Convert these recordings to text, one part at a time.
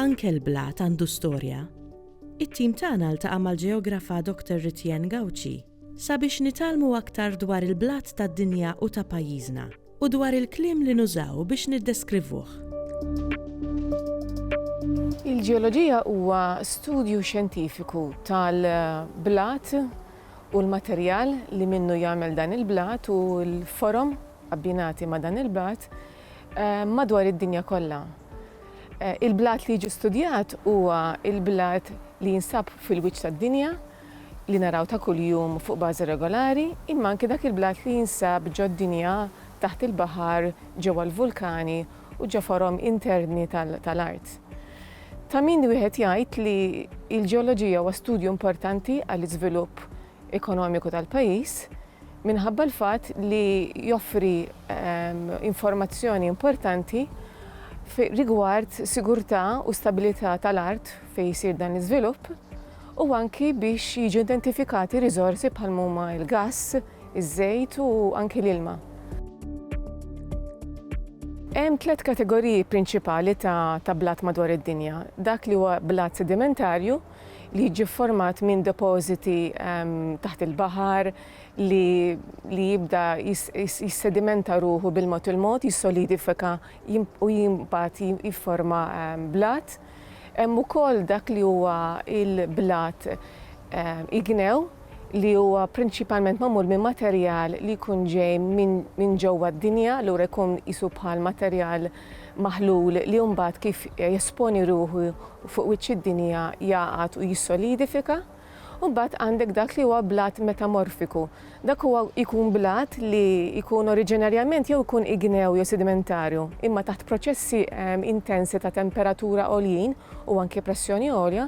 Anke l-blat għandu storja. It-tim tagħna ltaqa' mal-ġeografa Dr. Ritienne Gauci sabiex nitgħallmu aktar dwar il-blat tad-dinja u ta' pajjiżna. u dwar il-kliem li nużaw biex niddeskrivuh. Il-ġeoloġija huwa studju xjentifiku tal-blat u l-materjal li minnu jagħmel dan il-blat u l-forom abbinati ma' dan il-blat madwar id-dinja kollha. Il-blat li jiġi studjat huwa l-blat li jinsab fil-wiċċ tad-dinja, li naraw ta' kuljum fuq bażi regolari, imma anki dak il-blat li jinsab ġo d-dinja, taħt il-baħar, ġewwa l-vulkani u ġo forom interni tal-art. Ta' min wieħed jgħid li l-ġeoloġija huwa studju importanti għall-iżvilupp ekonomiku tal-pajjiż minħabba l-fatt li joffri informazzjoni importanti rigward sigurtà u stabilità tal-art fejn isir dan l-iżvilupp, u anki biex jiġu identifikati riżorsi bħal m'huma l-gass, iż-żejt u anki l-ilma. Hemm tliet kategoriji prinċipali ta' blat madwar id-dinja. Dak li huwa blat sedimentarju li jiġi fformat minn depożiti ehm, taħt il-baħar li jibda jissedimenta ruħu bil-mod il-mod, jissolidifika u jimbat jifforma ehm, blat. Hemm ukoll dak li huwa l-blat ignew li huwa prinċipalment magħmul minn materjal li jkun ġej minn ġewwa d-dinja, allura jkun qisu bħal materjal maħlul li mbagħad kif jesponi ruħu fuq wiċċ id-dinja jagħqad u jissolidifika. U mbagħad għandek dak li huwa blat metamorfiku. Dak huwa jkun blat li jkun oriġinarjament jew ikun ignew jew sedimentarju, imma taħt proċessi intensi ta' temperatura għoljin u anke pressjoni għolja,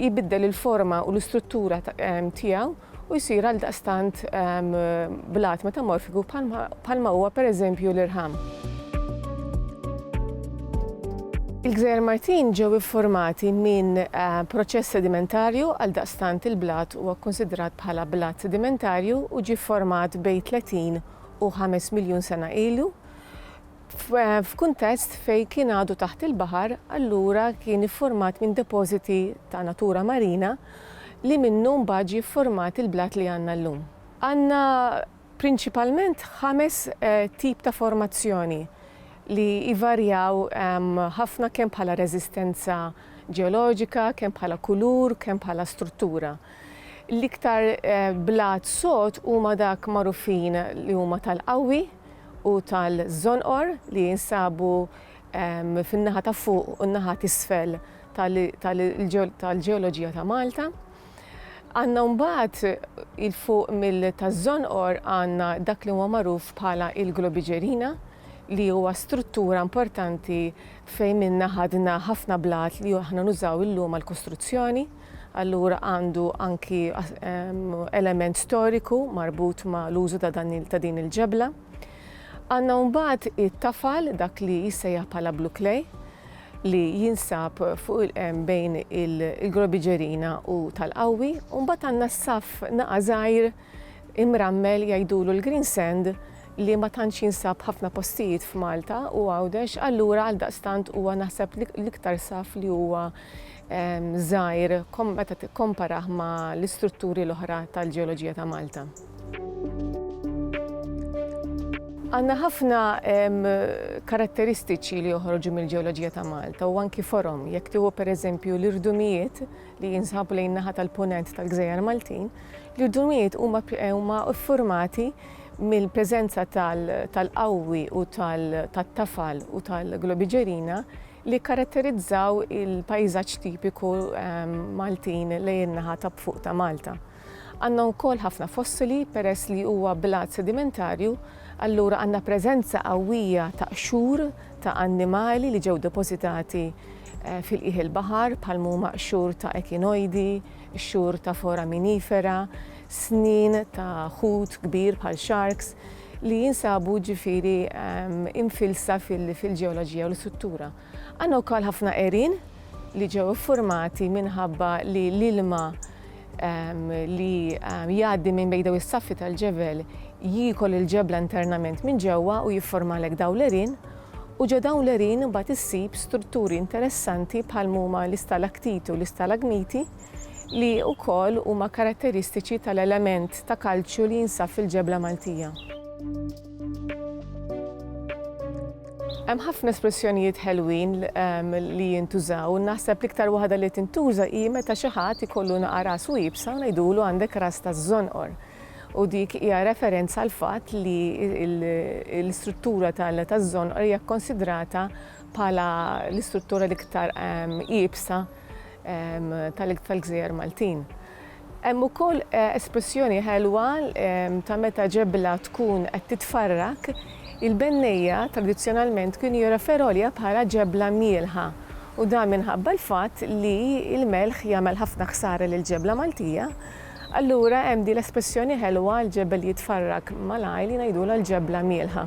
jibiddel il-forma u l-istruttura tiegħu. u jsir għaldaqstant blat metamorfiku bħalma huwa pereżempju l-irħam. Il-Gżejjer Martin ġew iffurmati minn proċess sedimentarju, għaldaqstant il-blat huwa kkunsidrat bħala blat sedimentarju u ġie fformat bejn 30 u 5 miljun sena ilu. F'kuntest fejn kien għadu taħt il-baħar, allura kien iffurmat minn depożiti ta' natura marina li minnu mbagħad ġie ffurmat il-blat li għandna llum. Għandna prinċipalment ħames tip ta' formazzjoni li jvarjaw ħafna kemm bħala reżistenza ġeoloġika, kemm bħala kulur, kemm bħala struttura. L-iktar blat sod huma dak magħrufin li huma tal-qawwi, u tal-żonqor li jinsabu fin-naħa ta' fuq u n-naħa t'isfel tal-ġeoloġija ta' Malta. Għandna mbagħad il-fuq mill taż-żonqor għandna dak li huwa magħruf bħala il-Globigerina li huwa struttura importanti fejn minnha ħadna ħafna blat li aħna nużaw illum għall-kostruzzjoni. allura għandu anki element storiku marbut ma' l-użu ta' dan ta' din il-ġebla. Għandna mbagħad it-tafal dak li jissejjaħ bħala Blue Clay li jinsab fuq il-qem bejn il-Grobiġerina u tal-Qawwi, u mbagħad għandna s-saff naqa' żgħir Imrammel jgħidulu l-green sand li ma tantx jinsab f'ħafna postijiet f'Malta u Għawdex allura għaldaqstant huwa naħseb l-iktar saff li huwa żgħir meta tikkomparah ma' l-istrutturi l-oħra tal-ġeoloġija ta' Malta. Għandna ħafna karatteristiċi li joħorġu mill-ġeoloġija ta' Malta u anki forom. Jekk tieħu pereżempju l-irdumijiet, li jinsabu lejn in-naħa tal-Punent tal-Gżejjer Maltin, li l-dnujiet huma huma ffurmati mill-preżenza tal-qawwi u tat-tafal u tal-globiġerina li jikkaratterizzaw il-pajżaġġ tipiku Maltin lejn in-naħa ta' fuq ta' Malta. Għandna wkoll ħafna fossili peress li huwa blat sedimentarju, allura għandna preżenza qawwija ta' qxur ta' annimali li ġew depożitati fil-qiegħ il-baħar bħal mhuma qxur ta' ekinojdi, qxur ta' foraminifera, snien ta' ħut kbir bħal sharks li jinsabu ġifieri imfilsa fil-ġeoloġija u l-istruttura. Għandna wkoll ħafna għerien li ġew iffurmati minħabba li l-ilma li jgħaddi minn bejn dawn is-saffi tal-ġebel jiekol il-ġebla internament minn ġewwa u jifformalek dawn l-għerien u ġo dawn l-għerien imbagħad issib strutturi interessanti bħal m'huma l-istalaktiti u l-istalagmiti li wkoll huma karatteristiċi tal-element ta' kalċju li jinsab fil-ġebla Maltija. Hemm ħafna espressjonijiet ħelwin ehm, li jintużaw, naħseb l-iktar waħda li tintuża hi meta xi ħadd ikollu naqar ras u jibsa u ngħidulu għandek ras taż-żonqor. U dik hija referenza għal fatt li l-istruttura taż-żonqor hija kkonsidrata bħala l-istruttura l-iktar ehm, jibsa ehm, tal-gżejjer Maltin. Hemm ukoll espressjoni ħelwa ta' meta ġebla tkun qed titfarrak. Il-bennejja tradizzjonalment kienu jirreferolja bħala ġebla mjielħa u dan minħabba l-fatt li l-melħ jagħmel ħafna ħsara lill-ġebla Maltija. Allura hemm din l-espressjoni ħelwa, l-ġebel jitfarrak malajr li ngħidulha l-ġebla mjielħa.